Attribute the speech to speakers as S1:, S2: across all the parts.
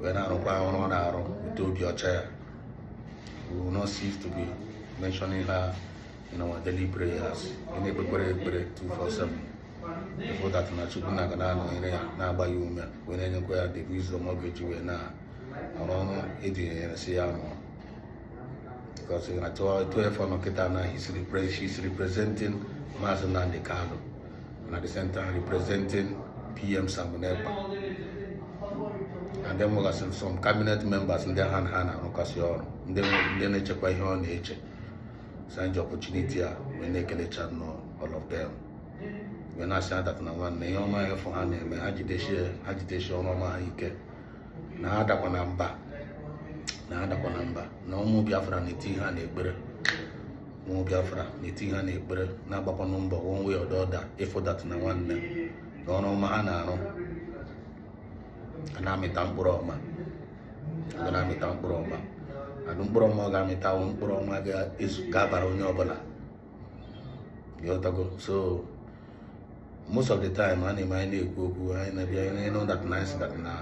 S1: wee na-arụkwa ọrụ ọ na-arụ with obi ọcha ya we will not cease to be mentioning her in our daily prayers ị na-ekpekwere ekpere 247 ịfụ that na Chukwu Nna ga na-anọnyere ya na-agba ya ume wee na-enyekwa ya the wisdom ọ ga-eji wee na arụ ọrụ e dunyere sị ya rụọ because n'otu efu ọ nọ kịta na he's representing maazị Nnamdi Kanu and at the same time representing PM Simon Ekpa. And then nwegasịrị some cabinet members ndị ha na ha na-arụkasị ọrụ ndị na-echekwa ihe ọ na-eche so anyị ji opportunity a wee na-ekelecha nnọọ all of them wee na-asị ha that na nwanne ihe ọma efu ha na-eme ha jidesie ọrụ ọma ha ike na ha adakwana mba na ha adakwana mba na ụmụ Biafra na-eti ha n'ekpere ụmụ Biafra na-etinye ha n'ekpere na-agbakwanụ mbọ one way or the other ịfụ that na nwanne na ọrụ ọma ha na-arụ a na-amịta mkpụrụ ọma a na-amịta mkpụrụ ọma and mkpụrụ ọma ọ ga-amịta wụ mkpụrụ ọma ga-abara onye ọbụla so most of the time a na-eme anyị na-ekwu okwu anyị na-abịa anyị na-anụ that na anyị sị that na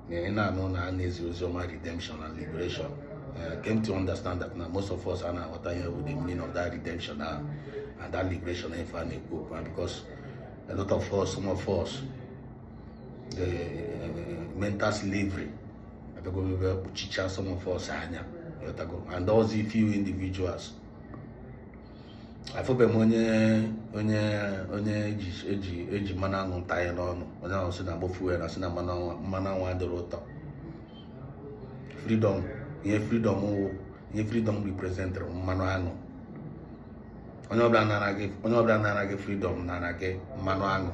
S1: na ị na-anụ na a na-ezi ozi ọma redemption and liberation I came to understand that na most of us anaghị aghọta ihe bụ the meaning of that redemption na and that liberation ife a na-ekwu okwu because a lot of us some of us the uh, mental slavery abịago bịa kpuchicha some of us anya and those few individuals afụbeghị m onye onye onye eji eji eji mmanụ aṅụ ntanye n'ọnụ onye ahụ si na-agbọfu ya na-asị na mmanụ aṅụ mmanụ aṅụ adịrọ ụtọ freedom ihe freedom wụ ihe freedom representịrị mmanụ aṅụ onye ọbụla nara gị onye ọbụla nara gị freedom nara gị mmanụ aṅụ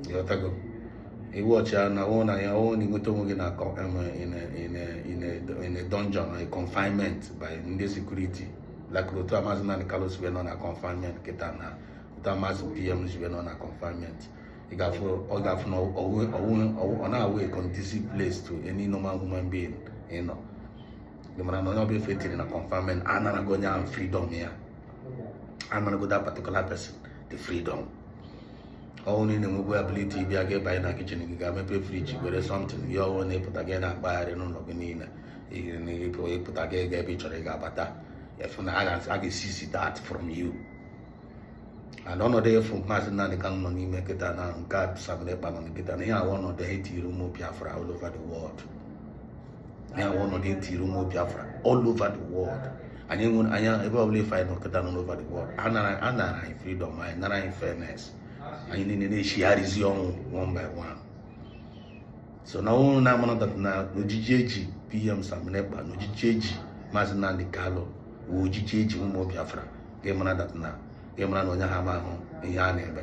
S1: ị ghọtago iwu ọchịa na ọ wụ na ya ọ wụ na ị nweta onwe gị na in a dungeon a confinement by ndị security like otu a maazị Nnamdi Kanu si wee nọ na confinement kịta na otu a maazị PM si wee nọ na confinement ị ga-afụ ọ ga-afụ na ọ na-awụ a conducive place to any normal human being ịnọ ị mara na onye ọbụla efu e tiri na confinement anarago onye ahụ freedom ya anarago that particular person the freedom ọ wụ na ị na-enwebu ability ịbịa gị banye na kitchen gị ga mepe fridge were something gị ṅụọ na ịpụta gị na-akpagharị n'ụlọ gị niile ịpụta gị ga ebe ị chọrọ ịga bata ị fụ na a ga-eseize that from you and ọnọdụ efu maazị Nnamdi Kanu nọ n'ime kịta na nke a Simon Ekpa nọ kịta na ihe a wụ ọnọdụ a e tiri ụmụ Biafra all over the world anyị nwe ọnọdụ etiri ụmụ Biafra all over the world anyị nwe anya ebe ọbụla ife anyị nọkọta nọ over the world a nara anyị freedom a nara anyị fairness anyị niile na-echigharịzi ọnwụ one by one so nwanne mara that na ojiji eji pm Simon Ekpa na ojiji eji Maazị Nnamdi Kanu wụ ojiji eji ụmụ Biafra ga-emara na onye ha ma ahụ ihe a na-eme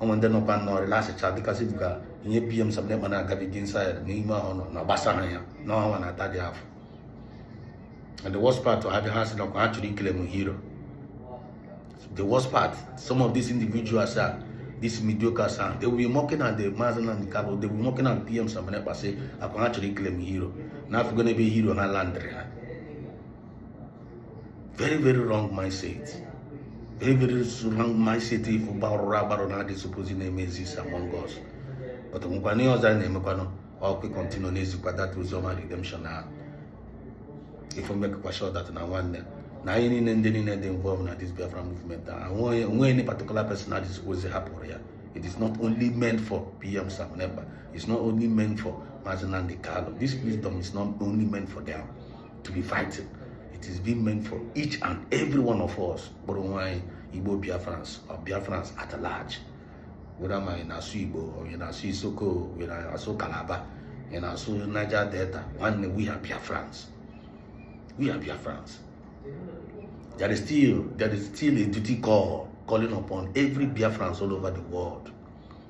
S1: onwe ndị nọkwa nnọọ lasịcha dịka si ka ihe pm Simon Ekpa na-agabiga inside n'ime ahụ nọ na gbasaha ya n'ọnwa na-ata dị afọ and the worst part ha bịa ha sị na ọkwa ha chọrọ ịclaim hero the worst part some of these individuals are this mediocres and they will be mocking at the Mazi Nnamdi Kanu they will be mocking at pm Simon Ekpa sị ọkwa ha chọrọ ịclaim hero na afụgo n'ebe hero ha landiri ha very very wrong mindset very very wrong mindset ife gbarụrụ agbarụ na adị supposed na-eme exist among us but nwekwana ihe ọzọ a na-emekwanụ ọkụ continue na-ezikwa that oziọma redemption ahụ ife makekwa sure that na nwanne na anyị niile ndị niile dị involved na this Biafra movement onweghị any particular person na dịzikwa ozi hapụrụ ya it is not only meant for PM Simon Ekpa it's not only meant for Mazi Nnamdi Kanu this freedom is not only meant for them to be fighting it is being meant for each and every one of us kpọrọ onwe anyị igbo biafrans or biafrans at large whether ma ị na-asụ igbo or ị na-asụ isoko ị na-asụ kalaba ị na-asụ niger delta nwanne we are biafrans we are biafrans there is still there is still a duty call calling upon every biafrans all over the world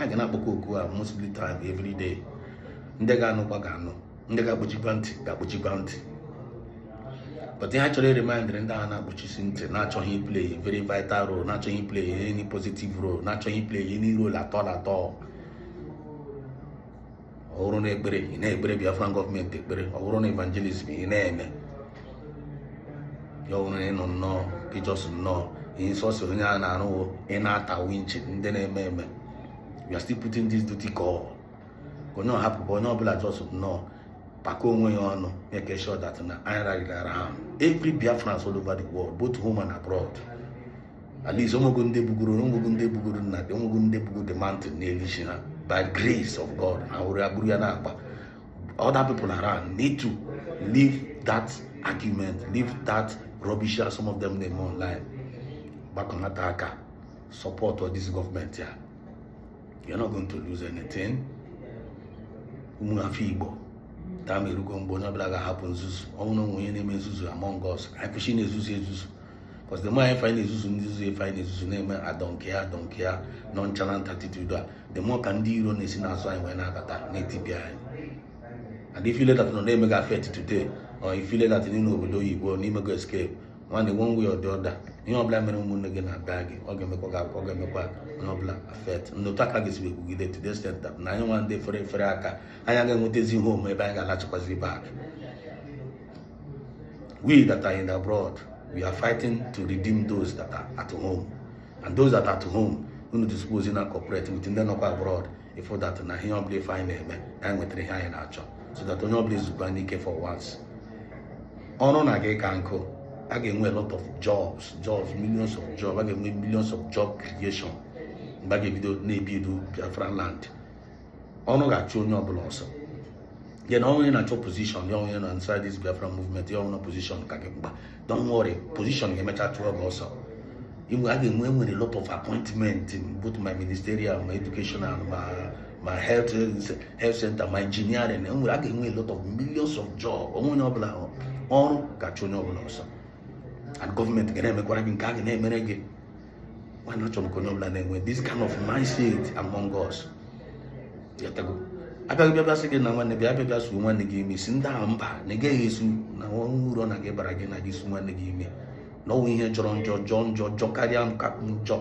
S1: a ga na-akpọkọ oku a mostly time every day ndị ga-anụkwa ga-anụ ndị ga-akpọchikwa ntị ga-akpọchikwa ntị but ihe a chọrọ iremindiri ndị a na-akpọchisi ntị na-achọghị play very vital role na-achọghị play any positive role na-achọghị play any role at all at all ọ bụrụ na ekpere ị na-ekpere Biafran government ekpere ọ bụrụ na evangelism ị na-eme ya ọ bụrụ na ịnọ nnọọ ị just nnọọ ihe sọsọ onye a na-arụwo ị na-ata winchi ndị na-eme eme we are still putting this duty call onye ọhapụbụ onye ọbụla just nnọọ pakọọ onwe ya ọnụ make sure that na anyị rallied around every Biafrans all over the world both home and abroad at least onwego ndị bugoro onwego ndị bugoro nna dị onwego ndị bugo the mountain n'elu isi ha by grace of God ha were agburu ya na-akpa other people around need to leave that argument leave that rubbish that some of them na-eme online gbakọta aka supportụọ this government ya you're not going to lose anything ụmụ afọ Igbo time erugo mgbe onye ọbụla ga-ahapụ nzuzu ọ wụ na onwe onye na-eme nzuzu among us anyị kwụsị na-ezuzu ezuzu because the more ife na-ezuzu ndị zuzu ife anyị na-ezuzu na-eme I don't care I don't care nonchalant attitude a the more ka ndị iro na-esi n'azụ anyị wee na-abata na-etibi anyị and if you feel that nọ na-eme ga-affect today or if you feel that n'ime obodo oyibo na i mego escape nwanne one way or the other ihe ọbụla mere ụmụnne gị na-abịa gị ọ ga-emekwa gị ọ ga-emekwa onye ọbụla affect nnotu aka gị sibe kwugide to the extent that na anyị nwa ndị fere fere aka anyị ga-enwetazi ihe omume ebe anyị ga-alachikwazi back We that are in abroad, we are fighting to redeem those that are at home. And those that are at home, unu suppose na cooperate with ndị nọkwa abroad ịfụ that na ihe ọbụla ife anyị na-eme na anyị nwetara ihe anyị na-achọ so that onye ọbụla ezukwanụ ike for once ọrụ na gị ka nkụ a ga-enwe a lot of jobs jobs millions of jobs a ga-enwe millions of job creation mgbe a ga-ebido na-ebuild Biafra land ọrụ ga-achụ onye ọbụla ọsọ gị nwa onye na-achọ position ya onye nọ inside this Biafra movement ya ọnụ position ka gị mgba don't worry position ga-emecha chụọ gị ọsọ inwe a ga-enwe nwere lot of appointment both ma ministerial ma educational ma ma health health center ma engineering enwere a ga-enwe lot of millions of job onwe onye ọbụla ọrụ ga-achụ onye ọbụla ọsọ and gọọmenti ga na-emekwara gị nke ọ ga na-emere gị nwanne achọ m ka onye ọbụla na-enwe this kind of mindset among us a bịa gị bịa bịa sị gị na nwanne bịa bịa bịa suo nwanne gị imi sị ndị ahụ mba na ị gaghị esu na o nwero uru ọ na-aga ịbara gị na ị ga-esu nwanne gị imi na o nwero ihe jọrọ njọ jọọ njọ jọkarịa nke a njọ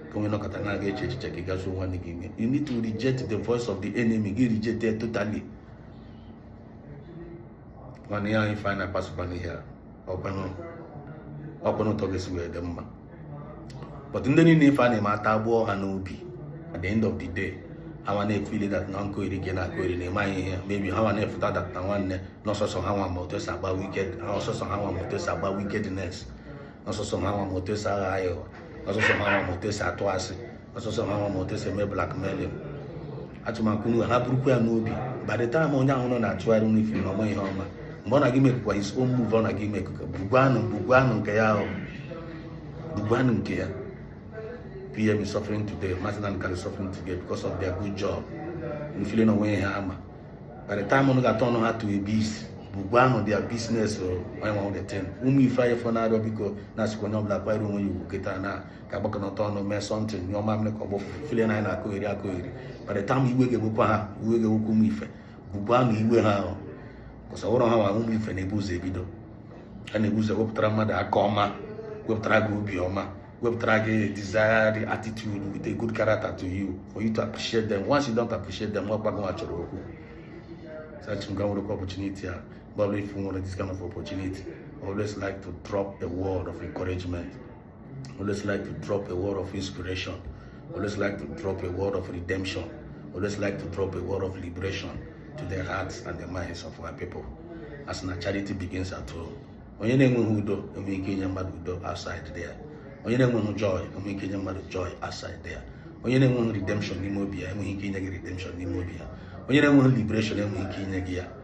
S1: ka onye nọkọta na-aga eche echiche gị ga suo nwanne gị imi you need to reject the voice of the enemy gị reject it totally mana ihe anyị fanyị na-akpasokwa n'ihe a ọkwanụ otu ọ ga-esi wee dị mma but ndị niile ife a na-eme atagbuo ha n'obi at the end of the day ha nwa na-efeel that na nkọheri gị na-akọheri na ịmaghị ihe mebi ha nwa na-afụta that na nwanne na sọsọ ha nwa ma otu esi agba wicked na sọsọ ha nwa ma otu esi agba wickedness na sọsọ ha nwa ma otu esi aghọ aghụghọ na sọsọ ha nwa ma otu esi atụ asị ọ sọsọ ha nwa ma otu esi eme blackmailing achọ m ka unu nwa burukwa ya n'obi by the time onye ahụ nọ na-achụgharị unu efeel na ọ ma ihe ọ ma mgbe ọ na-aga imakekwa his own move ọ na-aga imakekwa bugwanụ bugwanụ nke ya ahụ bugwanụ nke ya PM is suffering today Mazi Nnamdi Kanu suffering today because of their good job unu feel na o nwe ihe ọ ma by the time unu ga-aturn ya to a beast bugwanụ their business onye nwa the ten ụmụ ife anyị fọ na-arịọ biko na-asịkwa onye ọbụla kwanyere onwe ya ugwu kịta na ka agbakọnata ọnụ mee something nye ọma mmiri ka ọ bụ filie na anyị na-akụgheri akụgheri mana tam iwe ga-egbukwa ha iwe ga-egbukwa ụmụ ife bụbu anụ iwe ha ahụ kọsawụrụ ha nwa ụmụ ife na-ebu ụzọ ebido a na-ebu ụzọ wepụtara mmadụ aka ọma wepụtara gị obi ọma wepụtara gị desired attitude with a good character to you for you to appreciate them once you don't appreciate them nwa gbago nwa chọrọ okwu sachimga nwere opportunity a mgbe ọbụla ifu nwere this kind of opportunity always like to drop a word of encouragement Always like to drop a word of inspiration. Always like to drop a word of redemption. Always like to drop a word of liberation to the hearts and the minds of our people. A sị na charity begins at home. Onye na-enweghị udo enweghị ike inye mmadụ udo outside there. Onye na-enweghị joy enweghị ike inye mmadụ joy outside there. Onye na-enweghị redemption n'ime obi ya enweghị ike inye gị redemption n'ime obi ya. Onye na-enweghị liberation enweghị ike inye gị ya.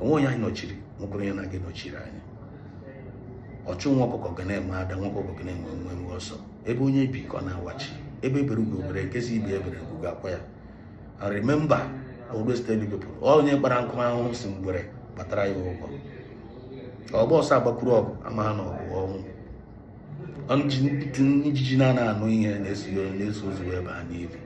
S1: o nwee onye anyị nọchiri nwekwara onye na-aga nọchiri anyị ọchụ nwa ọkụkọ ga na-enwe ada nwa ọkụkọ ga na-enwe nwe nwe ọsọ ebe onye bi ka ọ na-awachi egbe bere ugo bere nke sị ibe ebere nku ga-akwa ya I remember always tell you people onye kpara nkụ ahụhụ sị ngwere gbatara ya ụgwọ ọgba ọsọ agbakwuru ọgụ amaghị na ọgụ bụ ọnwụ ijiji na-anaghị anụ ihe na-eso na-eso ozu aba n'ili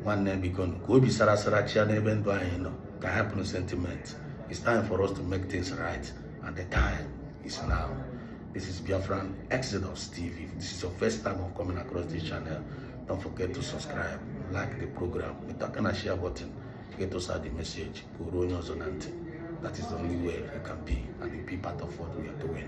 S1: nwanne biko ka obi sara sara chịa n'ebe ndụ anyị nọ ka a hapụ sentiment it's time for us to make things right and the time is now this is Biafran Exodus TV if this is your first time of coming across this channel don't forget to subscribe like the program bitụ aka na share button get us out the message ka o ruo onye ọzọ na ntị that is the only way you can be and be part of what we are doing